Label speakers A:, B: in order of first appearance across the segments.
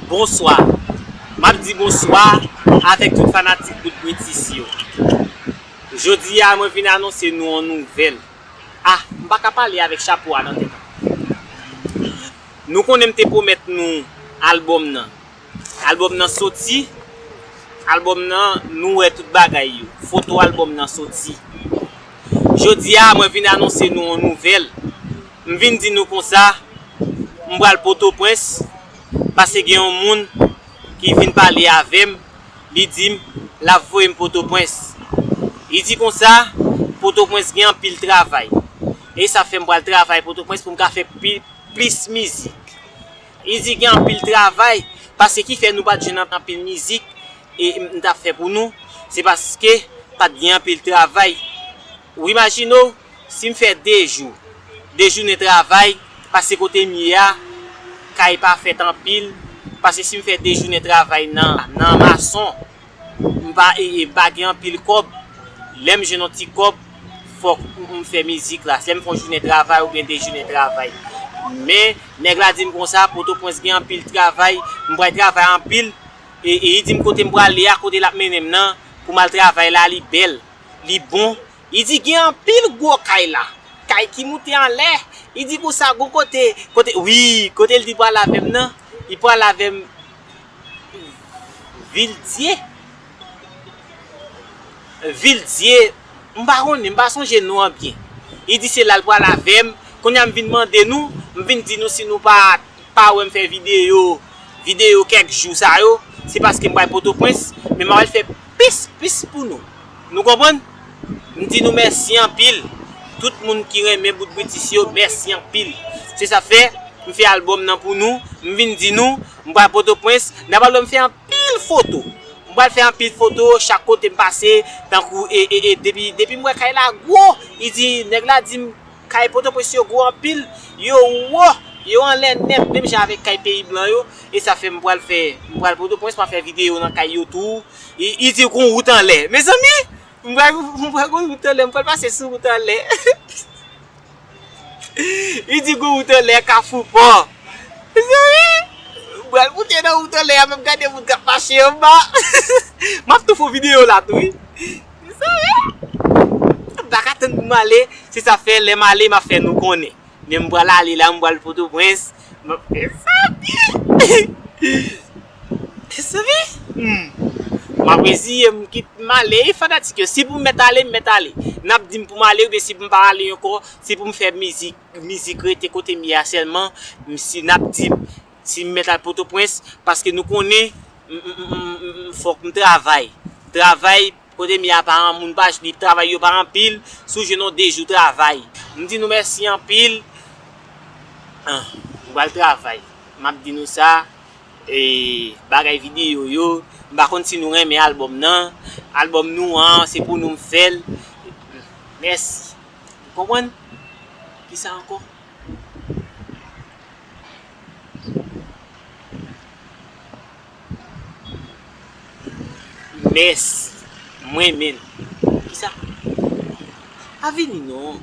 A: Bonswa Map di bonswa avèk tout fanatik bout britis yo Jodi a mwen vin anonse nou yon nouvèl Ah m pa ka pale avèk chapo a nan tèt Nou konnen m te pwomèt nou albòm nan Albòm nan soti Albòm nan nou wè tout bagay yo Foto albòm nan soti Jodi a mwen vin anonse nou yon nouvèl M vin di nou konsa, m pral Potopwens, pase gen yon moun ki vin pale avè m, li di m l ap voye m Potopwens. Li di konsa, Potopwens gen anpil travay. E sa fè m pral travay Potopwens pou m ka fè plis mizik. Li di gen anpil travay, pase ki fè nou pa t jwenn anpil mizik m t ap fè pou nou, se paske pa t gen anpil travay. Ou imajine w si m fè 2 jou, 2 jounen travay pase kote m ye a kay pa fèt anpil pase si m fè 2 jounen travay nan mason m pa m pa gen anpil kòb lè m jwenn yon ti kòb fòk m fè mizik la lè m fè yon jounen travay oubyen 2 jounen travay men nèg la di m konsa potoprens gen anpil travay m pral travay anpil e li di m kote m prale a kote l ap mennen m nan pou m al travay la li bèl. li bon, li di gen anpil gwo kay la, kay ki moute anlè, li di konsa gon kote, kote, wi, kote li di pral avè m nan, li pral avè m Vildye, Vildye, m pa konnen, m pa sonje non an byen, li di se la l pral avè m, kounye a m vin mande nou, m vin di nou si nou pa pa wèm fè video video kèk jou sa yo se paske m pral potopwens men m pral fè plis plis pou nou nou konprann m di nou mèsi anpil tout moun ki renmen bout britis yo mèsi anpil se sa fè m fè album nan pou nou m vin di nou m pral potopwens nan pral wèm fè anpil foto m pral fè anpil foto chak kote m pase tankou e e e depi m wè kay la gwo li di nèg la di m. Kay Potoprens yo gwo anpil, yo wo, yo anlè nèt menm jan avèk kay peyi blan yo, e sa fè m pral fè, m pral Potoprens m ap fè videyo nan kay yo tou, y di gon wout anlè. Mezanmi! M pral m pral gon wout anlè, m pral pase sou wout anlè. Y di gon wout anlè kafou pò. Mezanmi! M pral moute nan wout anlè a menm gade moun k ap mache anba. M ap tou fon videyo la tou wi. Mezanmi! M pa ka tann pou m ale, se sa fè lè m ale m ap fè nou konnen. Men m pral ale la, m pral Pòtoprens. Mezanmi! Mezanmi! M ap reziye m kit m ale wi fanatik yo. Si pou m mèt ale, m mèt ale. N ap di m pou m ale oubyen si pou m pa ale ankò, se pou m fè mizik, mizik rete kote m ye a sèlman, m si n ap di m Si m mèt al Potopwens, paske nou konnen m fòk m travay. Travay, kote m ye a pa an moun pa li travay yo pa anpil, si w jwenn yon 2 jou travay. M di nou mèsi anpil. M pral travay. M ap di nou sa, bagay videyo yo, m pa konn si nou renmen albòm nan. Albòm nou an, se pou nou m fè l. Mèsi. Ou konprann? Ki sa ankò? Mèsi m renmen l Ki sa? Pa vini non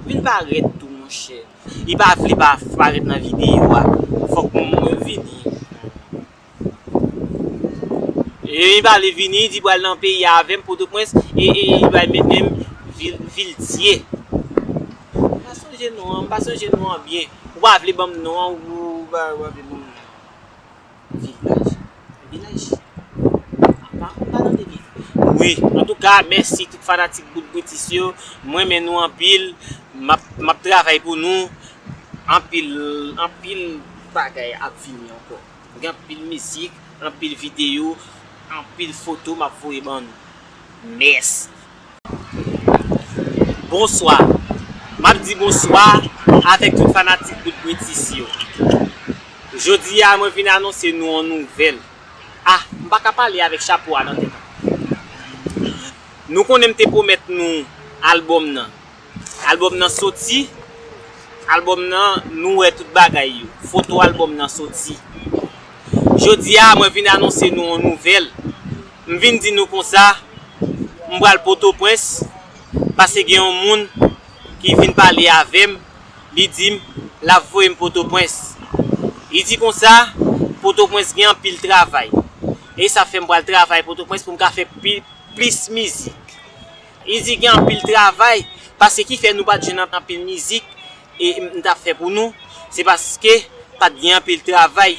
A: Vin parèt tou monchè Li pa vle pa parèt nan videyo a Fòk mwen vini E li pale vini, li pral nan peyi a avè m, Pòtoprens, e li pral mennen m vil, vil Dye. M pa sonje non an, m pa sonje non an byen. Ou pa vle ban m non an, ou pa vle ban m non an. Vilaj? Yon vilaj? M pa konn pa tande byen. Wi, antouka, mèsi tout fanatik Bout Britis yo. M renmen nou anpil. M ap, m ap travay pou nou. Anpil, anpil bagay ap vini ankò. Gen anpil mizik, anpil video, anpil foto map voye ban nou. Mèsi. Bonswa. Map di bonswa avèk tout fanatik bout Britis yo. Jodi a mwen vin anonse nou on nouvèl. Ah, m pa ka pale avèk chapo a nan tèt. Nou konnen m te pwomèt nou album nan. Album nan soti, album nan nou wè tout bagay yo, foto album nan soti. Jodi a mwen vin anonse nou yon nouvèl, m vin di nou konsa m pral potoprens pase gen yon moun ki vin pale avèm li dim lap voyem potoprens li di konsa potoprens gen anpil travay e sa fèm pral travay potoprens poum ka fè plis mizik. Li di gen anpil travay paske ki fè nou pat jwenn anpil mizik m tap fè pou nou se paske pat gen anpil travay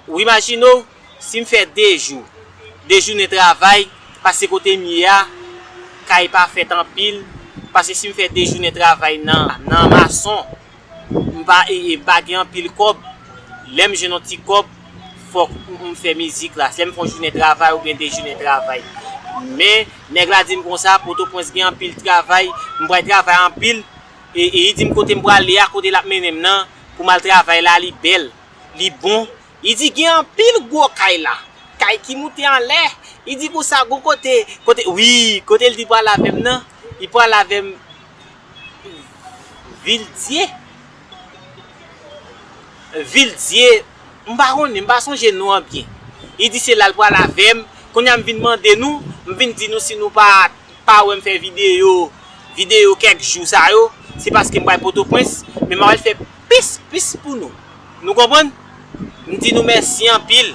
A: ou imajine w si m fè 2 jou 2 jounen travay paske kote m ye a kay pa fèt anpil paske si m fè 2 jounen travay nan mason M pa pa gen anpil kòb, lè m jwenn yon ti kòb fòk m fè mizik la, lè m fè yon jounen travay oubyen 2 jounen travay. Men nèg la di m konsa, Potopwens gen anpil travay, m pral travay anpil e li di m kote m prale a, kote l ap mennen m nan pou m al travay la li bèl, li bon. Li di gen anpil gwo kay la, kay ki moute anlè. Li di konsa gon kote, kote wi, kote l di pral avè m nan, li pral avè m. Vildie Vildie m pa konnen m pa sonje non an byen li di se la l pral avè m kounye a m vin mande nou m vin di nou si nou pa pa wè m fè videyo videyo kèk jou sa yo se paske m pral potoprens men m pral fè plis plis pou nou. Nou konprann? M di nou mèsi anpil.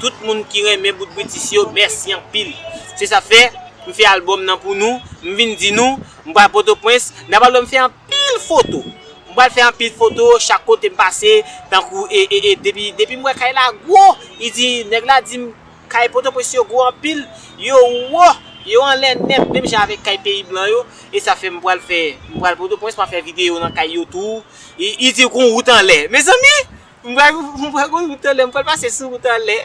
A: Tout moun ki renmen bout British yo, mèsi anpil. Se sa fè, m fè album nan pou nou. M vin di nou, m pral Pòtoprens, n ap al wè m fè anpil foto. M pral fè anpil foto chak kote m pase, tankou e, e, e, depi, depi m wè kay la gwo, li di, nèg la di m, kay Pòtoprens yo gwo anpil, yo wo, yo anlè nèt, menm jan avèk kay peyi blan yo. E sa fè m pral fè, m pral Pòtoprens, m ap fè videyo nan kay yo tou. Li di gon wout anlè. Mezanmi! M wè gon wout anlè. M pral pase sou wout anlè.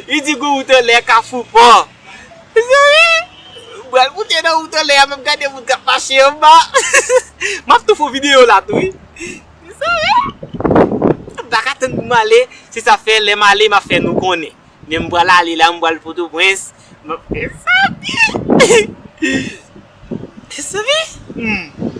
A: Li di gon wout anlè kafou pò. Mezanmi! M pral moute nan wout anlè a menm gade moun k ap mache anba. M ap tou fon videyo la tou wi. Mezanmi! M pa ka tann pou m ale. Se sa fè lè m ale m ap fè nou konnen. Men m pral ale la m pral Potoprens. Mezanmi! Desevant? Humm.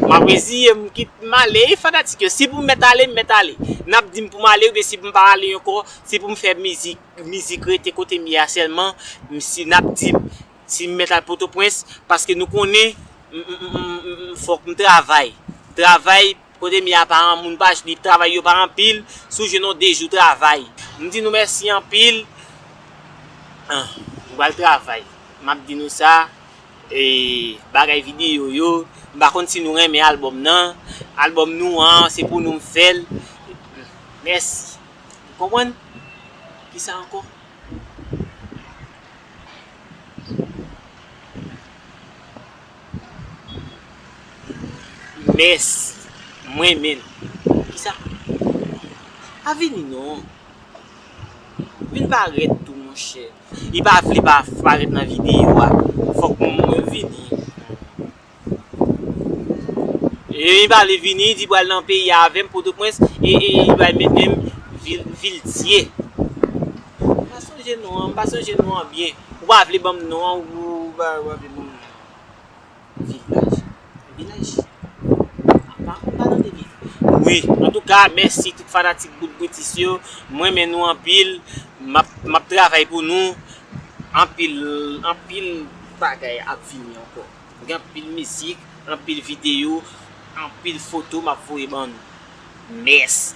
A: M ap reziye m kit m ale wi fanatik yo. Si pou m mèt ale, m mèt ale. N ap di m pou m ale oubyen si pou m pa ale ankò, si pou m fè mizik, mizik rete kote m ye a sèlman, m si n ap di m si m mèt al Pòtoprens paske nou konnen m m m fòk m travay. Travay. Kote Mia pa an moun pa jnip travay yo pa anpil sou je non de jou travay m di nou mèsi anpil ah m pral travay map di nou sa eeh bagay video yo m pa konn si nou renmen album nan album nou an se pou nou m fèl mèsi ou konprann kisa ankò. Mèsi. M renmen l. Kisa? Pa vini non. Vin parèt tou monchè. Li pa vle pa parèt nan videyo a. Fòk mwen vini. Lè li pale vini, li di pral nan peyi a avè m, Pòtoprens, e li bay mennen m Viltye. M pa sonje non an. M pa sonje non an byen. Ou pa vle ban m non an ou pa vle ban m. Wi antouka mèsi tout fanatik bout britis yo m renmen nou anpil m ap travay pou nou anpil anpil bagay ap vini ankò gen anpil mizik anpil videyo anpil foto m ap voye ban nou mèsi.